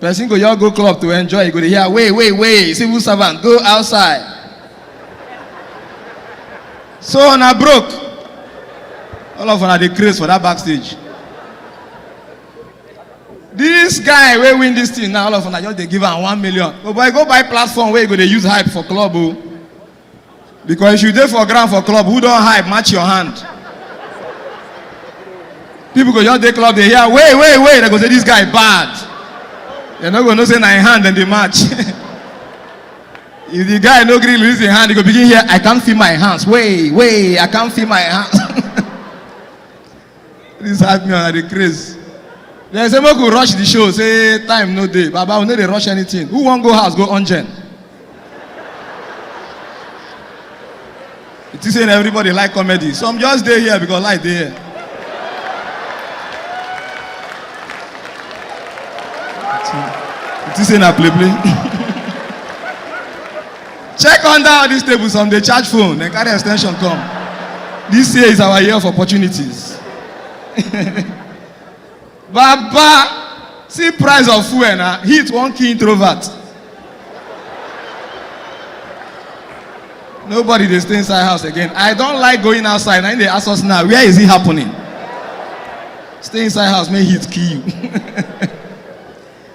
Person go just go club to enjoy, you go dey hear, wait, wait, wait, civil servant, go outside. So una broke. All of una dey craze for that backstage. This guy wey win this thing now, all of una just dey give am one million. Oh boy, go buy platform wey you go dey use hype for club o. Oh. Because if you dey for ground for club, who don hype, match your hand. People go just dey club, dey hear, wait, wait, wait, they go say, this guy bad. They no go know say na him hand dem dey match. if the guy no gree release him hand, he go begin hear, I can't feel my hands, wait, wait, I can't feel my hands. This hard me and I dey craze. Dem say make we rush the show say time no dey. Baba we no dey rush anything. Who wan go house go ungen? You think say na everybody like comedy? Some just dey here because life dey here. You think say na play play? Check under all these tables, some they charge phone, then carry extension come. This year is our year of opportunities. Baba, see price of fuel na heat one key introvert. Nobody dey stay inside house again. I don like going outside. Na im dey ask us now, where is it happening? Stay inside house, make heat kill you.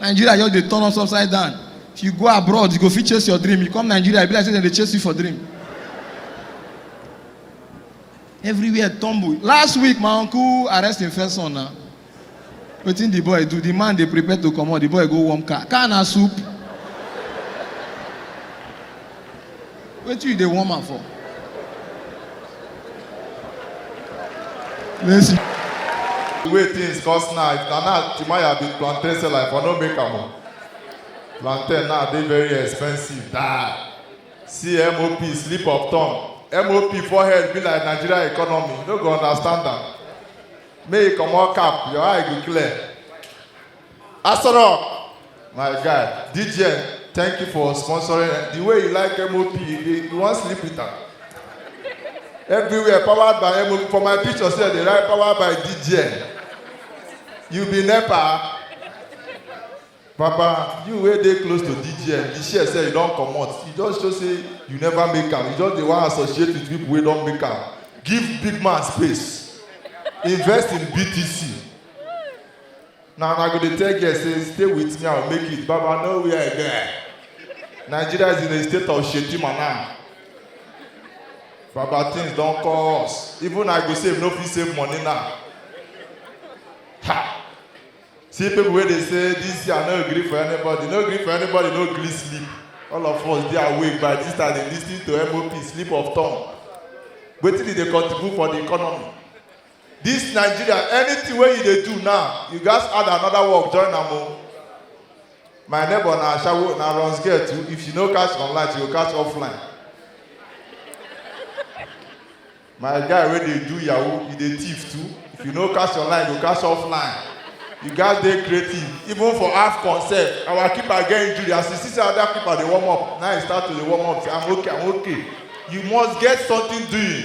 nigeria just dey turn us upside down if you go abroad you go fit chase your dream you come nigeria e be like say dem dey chase you for dream everywhere tumble last week my uncle arrest him first son na wetin the boy do the man dey prepare to comot the boy go warm car car na soup Wetin you dey warm am for? Let's see. The way things cost now, if na now Timaya be plantain seller, I for no make am o. Plantain now dey very expensive die. See MOP slip of tongue. MOP forehead be like Nigeria economy, you no go understand am. Make you comot cap, your eye go clear. Asoro, my guy, DJ, thank you for sponsoring. The way you like MOP, you, dey- you wan sleep with am. Everywhere powered by MOP. For my picture sef, dey write powered by DJ. You be NEPA. Papa, you wey dey close to DJ, the share sef you don comot. You just show say you never make am. You just dey wan associate with people wey don make am. Give big man space. Invest in BTC. na una go dey tell girl say stay with me i go make it baba no where i get nigeria is in a state of shedima now baba things don cost even i go save no fit save money now ha see people wey dey say this year no gree for anybody no gree for anybody no gree sleep all of us dey awake by this time dey lis ten to mop sleep of tongue wetin e dey contribute for the economy This Nigeria, anything wey you dey do now, you gats add another work join am o. My neighbor na ashawo, na runs girl too, if she no catch online, she go catch offline. My guy wey dey do yahoo, he dey thief too, if you no catch online, you go catch offline. You gats dey creative, even for AFCON sef, our keeper get injury, as you see say other keeper dey warm up, na him start to dey warm up say I'm okay, I'm okay. You must get something doing.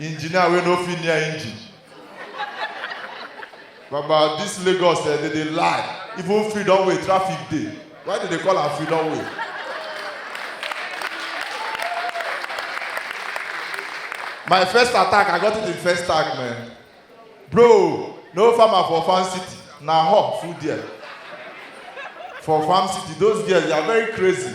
Engineer wey no fit near engine. Baba, this Lagos eh, they dey lie. Even freedom way, traffic dey. Why they dey call am freedom way? My first attack, I got it in first tag, man. Bro, no farmer for farm city. Na hawk full there. For farm city, those girls, they are very crazy.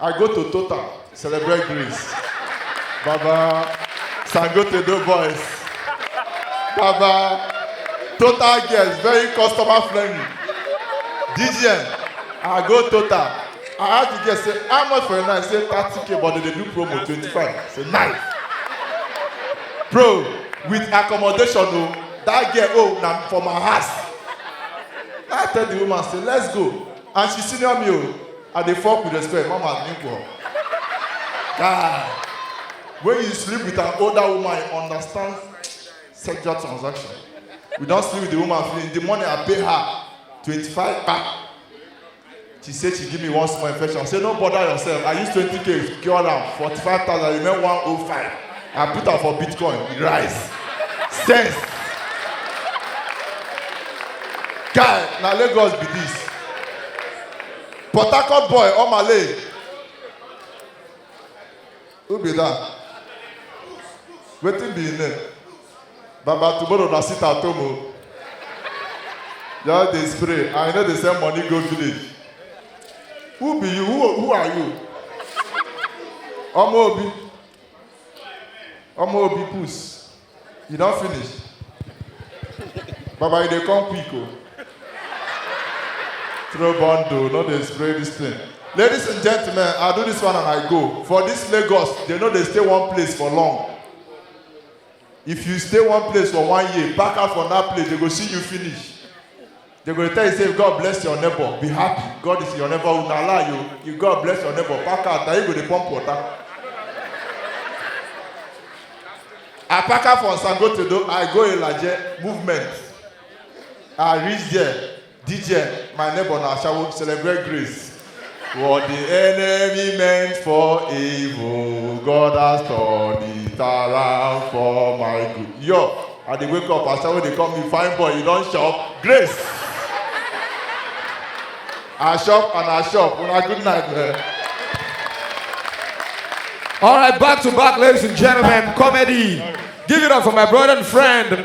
I go to Total, celebrate Greece. Baba, Sangote do boys. Baba, Total girls, very customer friendly. DGN, I go Total. I ask the girl, say, how much for a night? Say, 30k, but they dey do promo, 25. Say, nice. Bro, with accommodation, oh, that girl, oh, na for my house. I tell the woman, say, let's go. And she senior me, oh. I dey fuck with respect, mama nigga. Guy, when you sleep with an older woman, you understand sexual transaction. We don sleep with the woman finish. The money I pay her, 25 kpa. She say she give me one small infection. I say no bother yourself. I use 20k cure am, 45,000 remain 105. I put am for Bitcoin, e rise. Sense. Guy, na Lagos be this. Port Harcourt boy, Omale. Who be that? Wetin be him name? Baba tomorrow na sit at home o. Just dey spray and you no dey send money go village. Who be you? Who, who are you? Ọmọ Obi. Ọmọ Obi Puss. You don finish? Baba, you dey come quick o. Throw bundle, no dey spray this thing. Ladies and gentlemen, I do this one and I go. For this Lagos, they no dey stay one place for long. If you stay one place for one year, pack out from that place, they go see you finish. They go tell you say God bless your neighbor, be happy. God is your neighbor. Una lie you. You God bless your neighbor. Pack out. Now you go dey pump water. I pack out from Sangotedo. I go Ilaje movement. I reach there. DJ, my neighbor na Ashawo celebrate grace. What the enemy meant for evil, God has turned it around for my good. Yo, I dey wake up, as someone dey call me fine boy, you don shop, grace. I shop and I shop, una good night, man. All right, back to back, ladies and gentlemen, comedy. Give it up for my brother and friend.